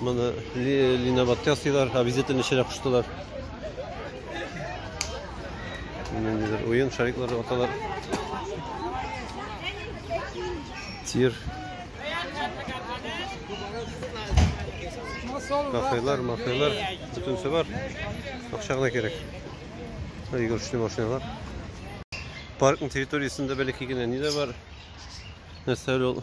Моны линобатка ясыйлар, обязательно эченә куштылар. Ниндидер уен шариклары аталар. Тир. Кафелар, мафелар, бүтүнсе бар. Акча гына кирәк. Игрушный машиналар. Паркның территориясендә бәләкәй генә ни дә бар. Нәрсә ул?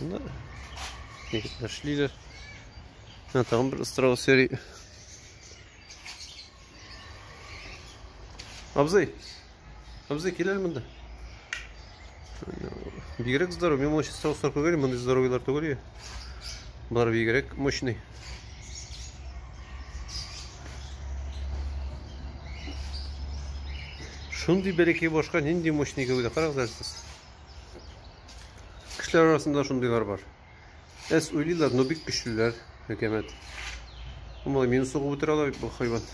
Да. Егетләр эшлиләр. Менә тагын бер страус йөри. Абзый. Абзый, киләл монда. Бигрәк здоров. Мин моңа страуслар күгәли, мондый здоровыйлар түгел. Болар бигрәк мощный. Шундый бәләкәй башка нинди мощный гәүдә. Карагыз әле сез. Кешеләр арасында шундыйлар бар. Әс уйлыйлар, но бик көчлеләр, хөкәмәт. Омлай мине сугып үтерә ала бит бу хайван.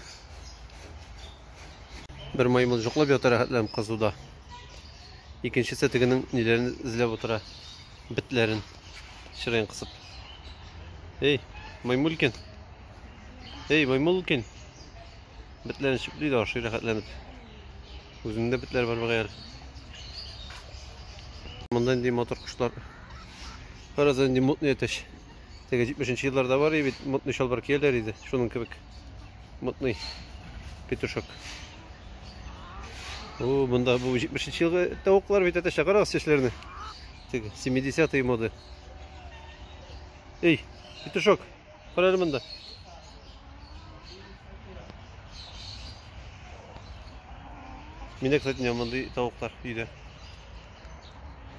Бер маймыл жоклап ята рәхәтләнеп кызуда. Икенчесе тегенең ниләрен эзләп утыра. Битләрен чырайын кысып. Эй, маймулкин. Эй, маймулкин. Бетләр ничек бит ашый рәхәтләнеп. Үзендә бетләр бар мөгаен. Монда инде мотор кошлар. Бераз инде мутный әтәч. Теге 70 елларда бар иде бит, мутный чалбар кияләр иде. Шуның кебек. Мутный петушок. О, монда бу 70 елгы тавыклар бит әтәч, карагыз чәчләренә. Теге 70-е моды. Эй, петушок. Күрәле монда. Мине кстати не мондый тавыклар өйдә.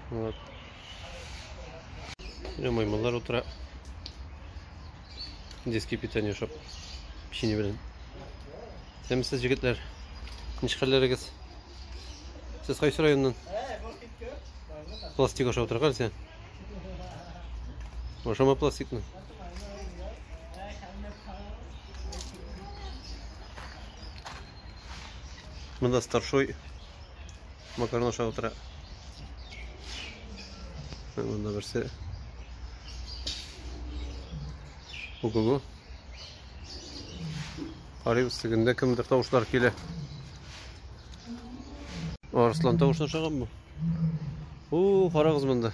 Вот. Менә маймыллар утыра. Детский питание шоп. Печенье белән. Сәмсез җегетләр. Ничкәләрегез? Сез кайсы районнан? Пластик ашап утыргансыз. Ашама пластикны. Мында старшой макарон ашап утыра. Мында берсе. Ого-го. Карыйбыз тегендә кемдер тавышлар килә. Арслан тавышы ашаганмы? О, карагыз монда.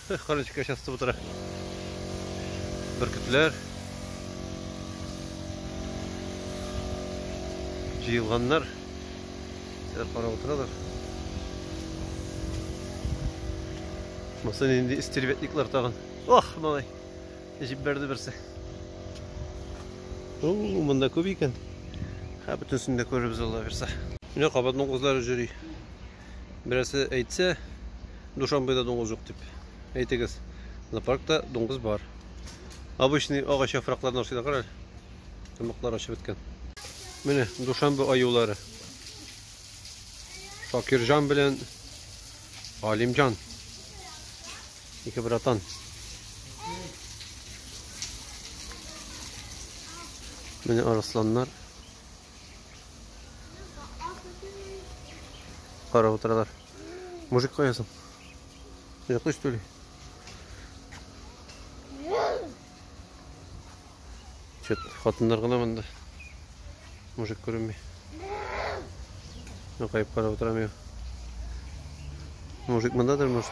Эх, Карынчыкка частып утыра. Бөркетләр. Җыелганнар. Сәр карап утыралар. Монсы нинди истеребетниклар тагын. Ох, малай. Җип бәрде берсе. О, монда күп икән. Һә, бөтенсен дә күрербез Алла бирса. Менә кабатның кызлары җөри. Берәсе әйтсә, Душанбеда дуңгыз юк дип. Әйтегез, зоопаркта дуңгыз бар. Обычный агач яфракларын ашыйлар карале. Тамаклар ашып беткән. Менә Душанбе аюлары. Шакирҗан белән Алимҗан. Ике братан. Менә арысланнар. Кара утыралар. Мужик каясың? Йоклый что ли? Чет хатыннар гына монда. Мужик күренми. Нукайып карап утырам я. Мужик мондадыр, может?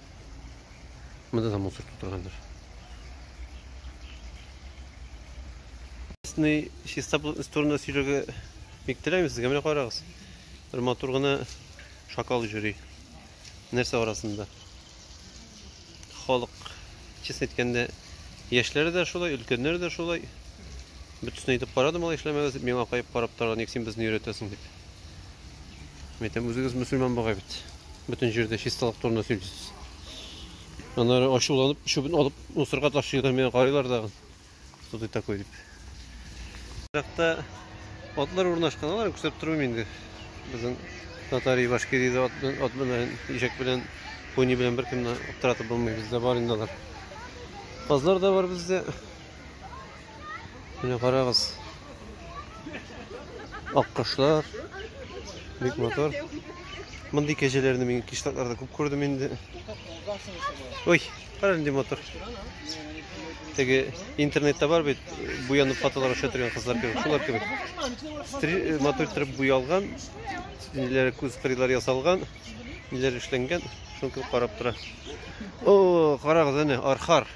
Монда да мусор тутырганнар. Чистный чистоплотность турында сөйләргә бик теләмим сезгә. Менә карагыз. Бер матур гына шакал йөри. Нәрсә арасында? Халык честно әйткәндә яшьләре дә шулай, өлкәннәре дә шулай. Бөтенесен әйтеп карадым, алай эшләмәгез дип, миңа каеп карап торган, ник син безне өйрәтәсең дип. Мәйтәм, үзегез мөселман бугай бит. Бөтен җирдә чисталык турында сөйлисез. Аннары ачуланып, чүбен алып, мусорга ташлыйлар, мені карыйлар дагы. Что ты такой дип. Иракта атлар урнашкан, аларны күрсәтеп тормыйм инде. Безнең татар и башкирий дә ат белән, ишәк белән, пони белән беркемне аптыратып булмый, бездә бар инде алар. Казлар да бар бездә. Менә карагыз. Аккошлар. Бик мотор. Мондый кәҗәләрне мин кишлакларда күп күрдем инде. Ой, кара нинди мотор. Теге интернетта бар бит, буянып фотолар аша торган кызлар кебек, шулар кебек. Э, мотор торып буялган, ниләр күз кырыйлар ясалган, ниләр эшләнгән, шуны карап тора. О, карагыз әнә, архар.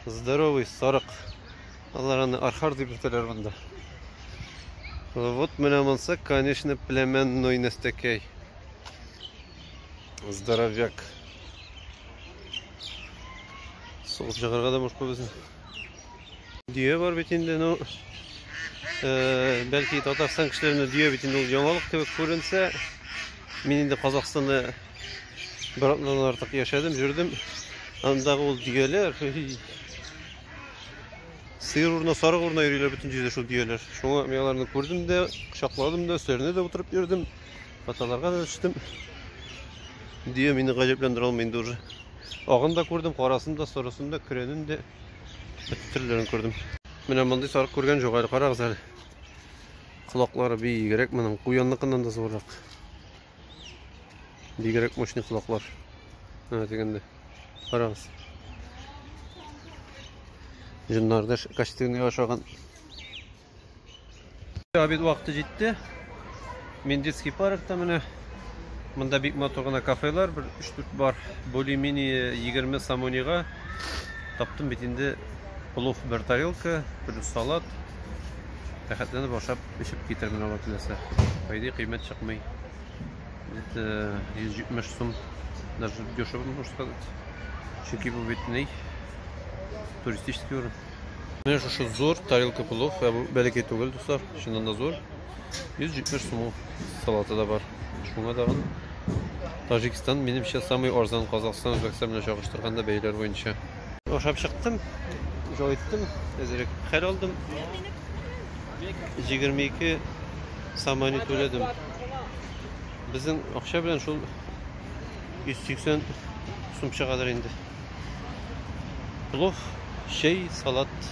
Здоровый сарык. Алар аны архар дип йөртәләр монда. Вот менә монсы, конечно, племенной нәстәкәй. Здоровяк. Сугып чыгарга да мушка безне. Дөя бар бит инде, ну, э, бәлки Татарстан кешеләренә дөя бит инде ул яңалык кебек күренсә, мин инде Казахстанда Бер атнадан артык яшәдем, йөрдем. Андагы ул дөяләр. Сыер урына, сарык урына йөриләр бөтен җирдә шул дөяләр. Шуңа мин аларны күрдем дә, кочакладым да, өсләренә дә утырып йөрдем. Фотоларга да төштем. Дөя мине гаҗәпләндерә алмый инде уже. Агын да күрдем, карасын да, сорысын да, көрәнен дә. Бөтен төрләрен күрдем. Менә мондый сарык күргән җук әле, карагыз әле. Колаклары биегрәк моның, куянныкыннан да зуррак. Бигрәк мощный колаклар. Менә дигәндә. Карагыз. Җыннарда костюмны ашаган. Обед вакыты җитте. Мендицкий паркта менә Монда бик матур гына кафелар, бер 3-4 бар. Более-менее 20 самонига таптым бит инде плов бер тарелка, плюс салат. Рәхәтләнеп ашап Эчеп китермен ала теләсә. Әйди кыйммәт чыкмый. Бит 170 э, сум. Даже дешево можно сказать. Чөнки бу бит ни? Туристический урын. Менә шушы зур тарелка плов, ә бу бәләкәй түгел, дуслар. Чыннан да зур. 170 сум салаты да бар. Шуңа тагын Таҗикстан, минемчә, самый арзан Казахстан, Үзбәкстан белән чагыштырганда бәяләр буенча. Ашап чыктым, җай иттем, әзрәк хәл алдым. 22 самани түләдем. Безнең акча белән шул 180 сум чыгадыр инде. Плов, чәй, салат.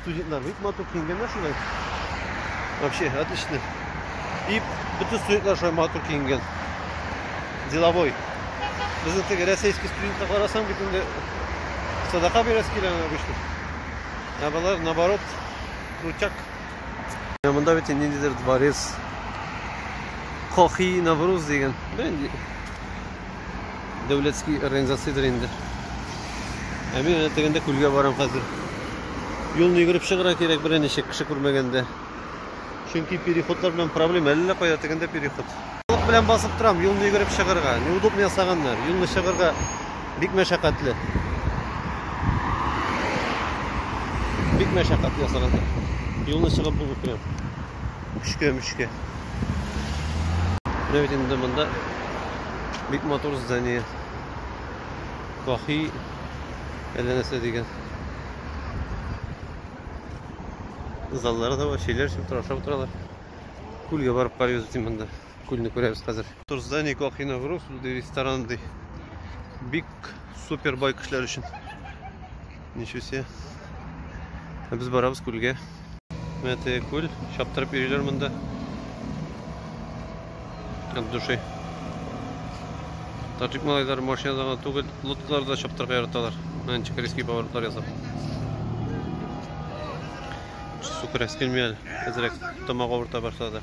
Студентлар бик матур киенгәннәр шулай. Вообще, отлично. И бөтен студентлар шулай матур киенгән. Деловой. Безнең теге рәсәйский студентка карасаң бит инде садака бирәсе килә обычно. Ә болар наоборот крутяк. Ә монда бит ниндидер дворец. Кохи Навруз дигән. Бәнди. дәүләтский организациядер инде. Ә мин әнә тегендә күлгә барам хәзер. Юлны йөгереп чыгыра кирәк берничә кеше күрмәгәндә. Чөнки переходлар белән проблема, әллә кая тегендә переход. Халык белән басып торам, юлны йөгереп чыгырга. Неудобно ясаганнар. Юлны чыгырга бик мәшәкатьле. Бик мәшәкатьле ясаганнар. Юлны чыгып булмый прям. Үчкә-мүчкә. Менә бит инде монда бик матур здание. Каһи әллә нәрсә дигән. Заллары да бар, чәйләр эчеп тора, ашап утыралар. Күлгә барып карыйбыз бит монда. күлне күрәбез хәзер. Турзда никак иногруф, ди ресторан ди. Бик супер бай кешеләр өчен. Ничего себе. Ә без барабыз күлгә. Менә теге күл, чаптырып йөриләр монда. От души. Таджик малайлары машинада гына түгел, лодкаларда чаптырып яраталар. Менә ничек резкий поворотлар ясап. Су керәс килми әле. Әзрәк тамак авырта башлады.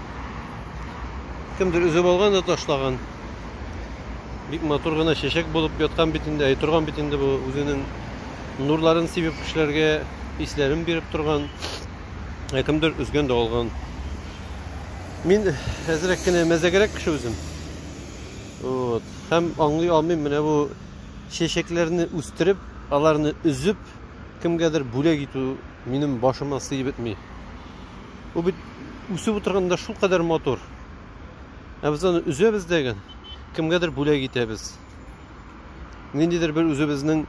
Кемдер өзеп алган да ташлаган. Бик матур гына чәчәк булып яткан бит инде, әй торган бит инде бу үзенең нурларын сибеп кешеләргә исләрен биреп торган. Ә кемдер өзгән дә алган. Мин әзрәк кенә мәзәгәрәк кеше үзем. Вот. Һәм аңлый алмыйм менә бу чәчәкләрне үстереп, аларны өзеп, кемгәдер бүләк итү минем башыма сыеп бетми. Бу бит үсеп утырганда шулкадәр матур. Ә без аны өзәбез дәген, кемгәдер бүләк итәбез. Ниндидер бер үзебезнең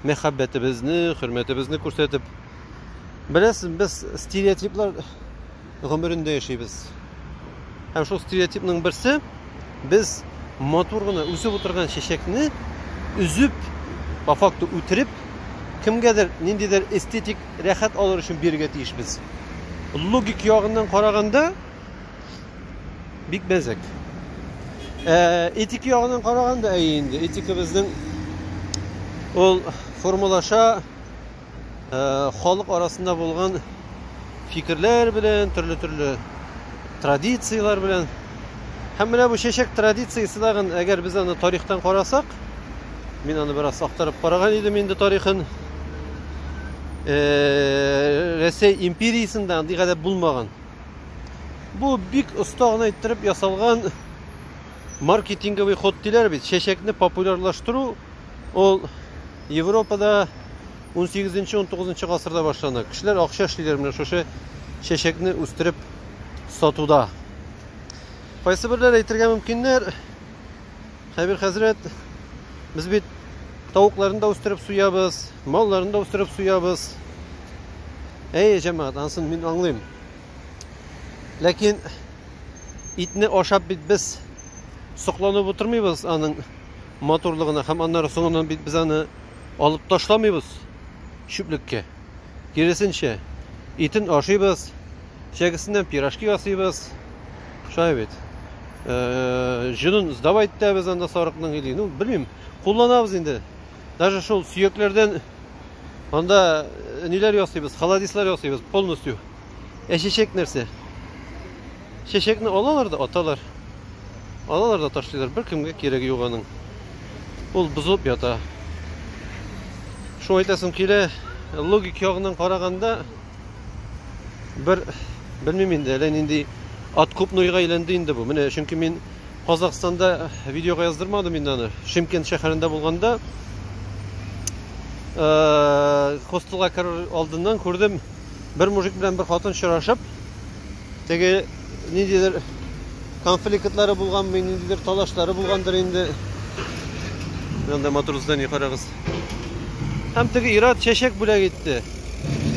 мәхәббәтебезне, хөрмәтебезне күрсәтеп. Беләсез, без стереотиплар гомерендә яшибез. Һәм шул стереотипның берсе, без матур гына үсеп утырган чәчәкне өзеп, по факту үтереп, кемгәдер ниндидер эстетик рәхәт алыр өчен бирергә тиешбез. Логик ягыннан караганда бик мәзәк. Ә, этик ягыннан караганда әйе инде, этикабызның ул формалаша, халык арасында булган фикерләр белән, төрле-төрле традицияләр белән. Һәм менә бу чәчәк традициясе тагын, әгәр без аны тарихтан карасак, мин аны бераз актарып караган идем инде тарихын. Э, Рәсәй империясендә андый гадәт булмаган. Бу бик оста гына иттереп ясалган маркетинговый ход диләр бит. Чәчәкне популярлаштыру Ул Европада унсигезенче, унтугызынчы гасырда башлана. Кешеләр акча эшлиләр менә шушы чәчәкне үстереп сатуда. Кайсы берләр әйтергә мөмкиннәр? Хәбир хәзрәт, без бит тавыкларны да үстереп суябыз, малларны да үстереп суябыз. Әй, җәмәгать, ансын мин аңлыйм. Ләкин итне ашап бит без сокланып утырмыйбыз аның матурлыгына һәм аннары соңыннан бит без аны алып ташламыйбыз чүплеккә. Киресенчә, итен ашыйбыз, чәгесеннән пирожки ясыйбыз. Шулай бит. Э, җонын сдавать итәбез анда сарыкның или, ну, белмим, кулланабыз инде. Даже шул сөякләрдән анда э, ниләр ясыйбыз, холодислар ясыйбыз полностью. Ә чәчәк нәрсә? Чәчәкне алалар да аталар. Алалар да ташлыйлар. Бер кемгә кирәге юк аның. Ул бозылып ята. Шуңа әйтәсем килә, логик ягыннан караганда бер белмим инде, әллә нинди ат күп нойга әйләнде инде бу. Менә чөнки мин Казахстанда видеога яздырмадым инде аны. Шимкент шәһәрендә булганда хостелга керер алдыннан күрдем бер мужик белән бер хатын очрашып, теге ниндидер конфликтлары булганмы, ниндидер талашлары булгандыр инде. Анда матур здание карагыз. Һәм теге ират чәчәк бүләк итте.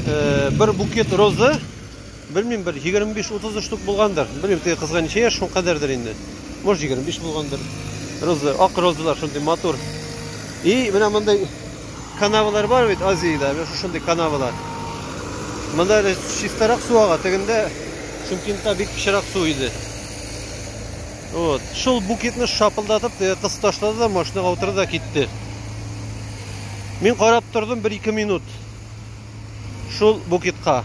Э, бер букет розы, белмим, бер 25-30 штук булгандыр. Белмим, теге кызга ничә яшь, шул кадәрдер инде. Может, 25 булгандыр. Роза, ак розалар шундый матур. И менә мондай канавалар бар бит Азиядә, менә шушындый канавалар. Монда әле чистарак су ага, тегендә Шымкентта бик пычрак су иде. Вот. Шул букетны шапылдатып, кыз ташлады да машинаға утырды да китте. Мин карап тордым 1-2 минут. Шул букетка.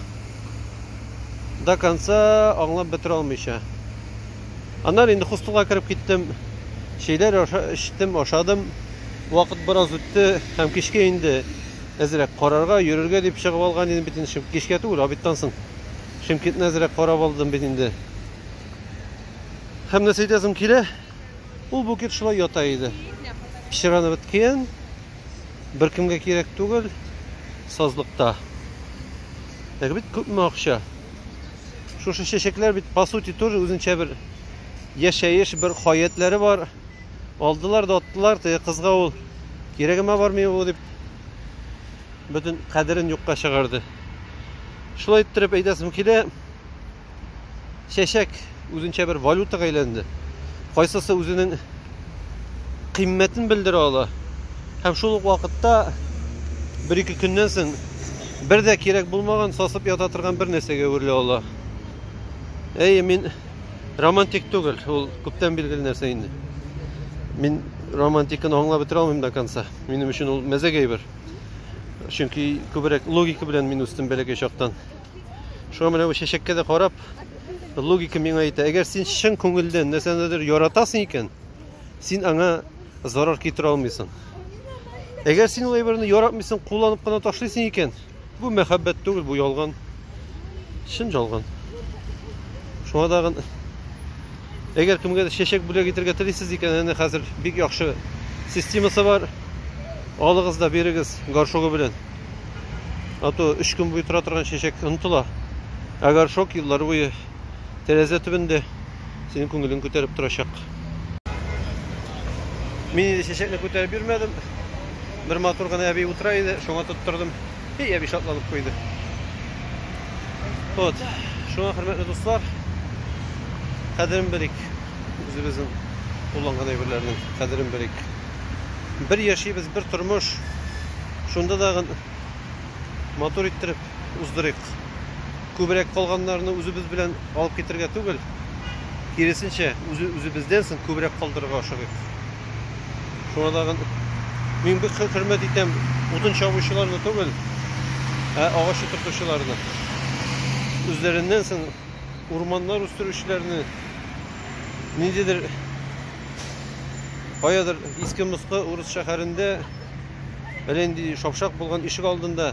До конца аңлап бетерә алмыйча. Аннан инде хостелга кереп киттем. Чәйләр эчтем, ашадым. Вакыт бераз үтте һәм кичкә инде әзрәк карарга, йөрергә дип чыгып алган идем бит инде. Кичкә түгел, обедтан соң Шимкентны әзрәк карап алдым бит инде. Һәм нәрсә әйтәсем килә, ул букет шулай ята иде. Пычраны беткән, беркемгә кирәк түгел, сазлыкта. Әгәр бит күпме акча. Шушы чәчәкләр бит по сути тоже үзенчә бер яшәеш, бер хаятләре бар. Алдылар да аттылар, теге кызга ул кирәгемә бармый бу дип бөтен кадерен юкка чыгарды. Шулай иттереп әйтәсем килә, чәчәк үзенчә бер валютага әйләнде. Кайсысы үзенең кыйммәтен белдерә ала. Һәм шул ук вакытта бер ике көннән соң бер дә кирәк булмаган, сасып ята торган бер нәрсәгә әверелә ала. Әйе, мин Романтик түгел, ул күптән билгеле нәрсә инде. Мин романтиканы аңлап бетерә алмыйм до конца. Минем өчен ул мәзәк әйбер. Чөнки күбрәк логика белән мин үстем бәләкәй чактан. Шуңа менә бу чәчәккә дә карап, логика миңа әйтә, әгәр син чын күңелдән нәрсәнедер яратасың икән, син аңа зарар китерә алмыйсың. Әгәр син ул әйберне яратмыйсың, кулланып кына ташлыйсың икән, Бу мәхәббәт түгел, бу ялган. Чын жалган. Шуңа тагын әгәр кемгә дә чәчәк бүләк итәргә телисез икән, әнә хәзер бик яхшы системасы бар. Алыгыз да бирегез горшогы белән. А то 3 көн буе тора торган чәчәк онытыла. Ә горшок еллар буе тәрәзә төбендә. синең күңелең күтәреп торачак. Мин инде чәчәкне күтәреп йөрмәдем. Бер матур гына әби утыра иде, шуңа тоттырдым. И әби шатланып куйды. Вот. Шуңа хөрмәтле дуслар, кадерен белик. Үзебезнең кулланган әйберләрнең кадерен белик. Бер яшибез, бер тормыш. Шунда да матур иттереп уздырыйк. Күбрәк калганнарны үзебез белән алып китергә түгел, киресенчә, үзе-үзебездән соң күбрәк калдырырга ашыгыйк. Шуңа тагын мин бик хөрмәт итәм утын чабучыларны түгел, ә агач утыртучыларны. Үзләреннән соң урманнар үстерүчеләрне ниндидер каядыр иске-москы урыс шәһәрендә әллә нинди шапшак булган ишек алдында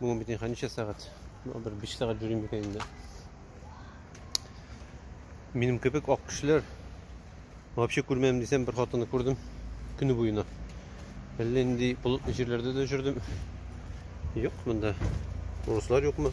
Бүгін бит инха ничә сәгать? Бер 5 сәгать йөрим икән инде. Минем кебек ак кешеләр вообще күрмәдем дисәм, бер хатынны күрдем көне буена. Әллә инде болытлы җирләрдә дә йөрдем. Юк монда. Урыслар юкмы?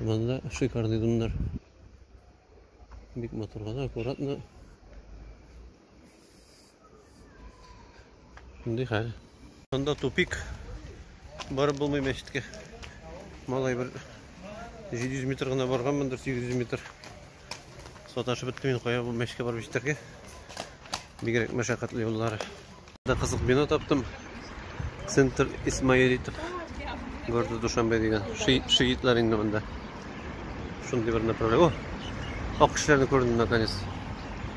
Монда шикарный дымнар. Бик матур гына, аккуратно. Шундый хәл. Монда тупик. Барып булмый мәчеткә. Малай бер 700 метр гына барганмындыр, 800 метр. Саташып беттем мин кая бу мәчкә барып җитәргә. Бигрәк мәшәкатьле юллары. Да кызык бина таптым. Центр Исмаилитов города Душанбе дигән. Шиитлар инде монда. Шундый бер направление. О! Ак кешеләрне күрдем наконец.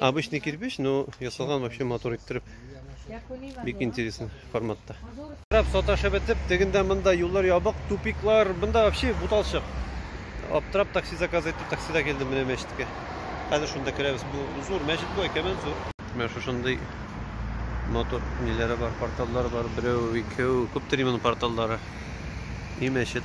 Обычный кирпич, но ясалган вообще матур иттереп. Бик интересный форматта. Раб саташы бетеп, тегендә монда юллар ябык, тупиклар, монда вообще буталчык. Аптырап такси заказ итеп, таксида килдем менә мәчеткә. Хәзер шунда керәбез. Бу зур мәчет бу, әкәмәт зур. Менә шушындый матур ниләре бар, порталлар бар. Берәү, икәү, күптер именно порталлары. И мәчет.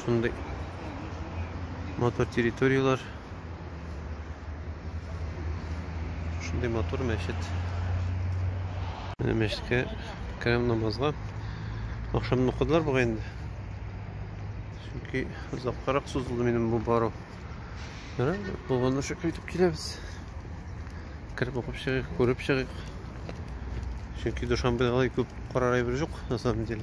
Шундый матур территорияләр. Шундый матур мәчет. Менә мәчеткә керәм намазга. Ахшамны укыдылар бугай инде. Чөнки озаккарак сузылды минем бу бару. Менә булган шушы көйтеп киләбез. Кереп укып чыгыйк, күреп чыгыйк. Чөнки Душанбеда алай күп карар әйбер юк, на самом деле.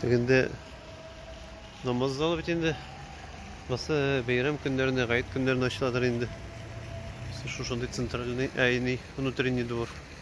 Тегенде намаз залы бит инде. Басы бәйрәм көннәренә, гает көннәренә ачыладыр инде. Шушындый центральный, ә не внутренний двор.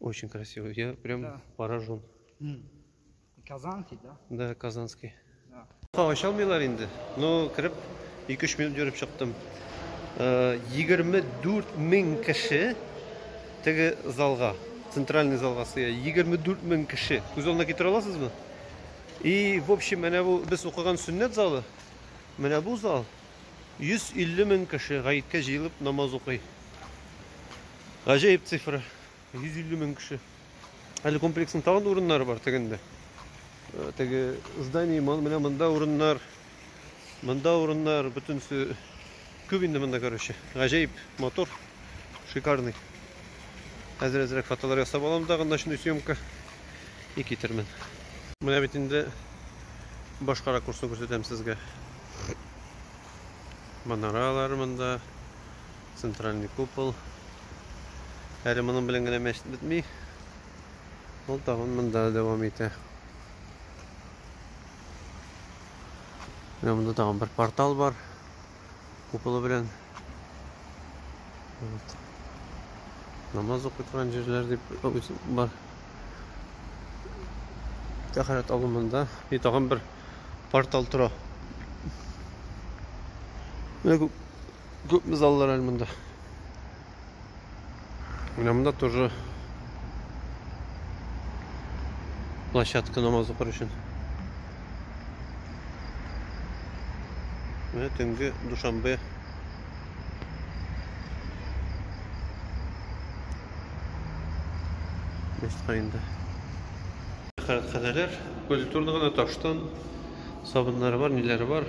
Очень красивый. Я прям да. поражен. Казанский, да? Да, казанский. Да. Ача алмыйлар инде. Но кереп 2-3 минут йөреп чыктым. 24 э, мең кеше теге залга, центральный залга сыя. 24 мең кеше. Күз алдына китерә аласызмы? И, в общем, менә бу без укыган сөннәт залы. Менә бу зал 150 мең кеше гаеткә җыелып намаз укый. Гаҗәеп цифра. 150 мең кеше. Әле комплексның тагын урыннары бар тегендә. Э, теге здание менә монда урыннар, монда урыннар, бөтенесе күп инде монда, короче. Гаҗәеп мотор, шикарный. Әзер әзрәк фотолар ясап алам да, ночной съемка и китермен. Менә бит инде башка ракурсны күрсәтәм сезгә. Манаралар монда, Центральный купол. Әле моның белән генә мәчет бетми. Ул тагын монда дәвам итә. Менә монда тагын бер портал бар. Куполы белән. Вот. Намаз укый торган җирләр дип бар. Тәхәрәт алу монда. И тагын бер портал тора. Менә Күпме заллар әле монда. Менә монда тоже площадка намаз укыр өчен. Менә төнге Душанбе Меска инде. Хәрәкәтләр, культурный гына таштан сабыннары бар, ниләре бар.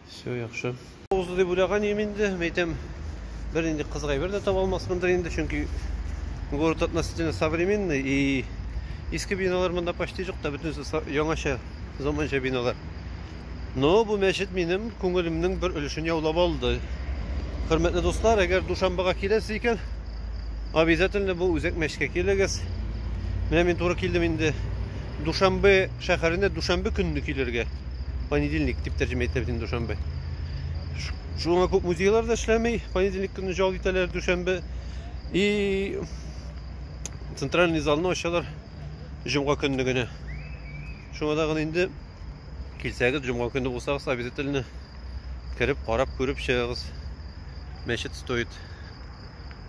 Все яхшы. Узды дип уйлаганым инде, мәйтәм, бер нинди кызык әйбер дә таба алмасмындыр инде, чөнки город относительно современный и иске биналар монда почти юк та, бөтенесе яңача, заманча биналар. Но бу мәчет минем күңелемнең бер өлешен яулап алды. Хөрмәтле дуслар, әгәр Душанбага киләсез икән, обязательно бу үзәк мәчеткә килегез. Менә мин туры килдем инде. Душанбе шәһәренә дүшәмбе көнне килергә. Понедельник дип тәрҗемә итә бит инде дүшәмбе. Шуңа күп музейлар да эшләми, понедельник көнне җал итәләр дүшәмбе. И центральный залны ачалар җомга көнне генә. Шуңа да гына инде килсәгез, җомга көнне булсагыз, обязательно кереп, карап, күреп чыгыгыз. Мәчет стоит.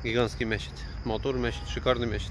Гигантский мәчет. Матур мәчет, шикарный мәчет.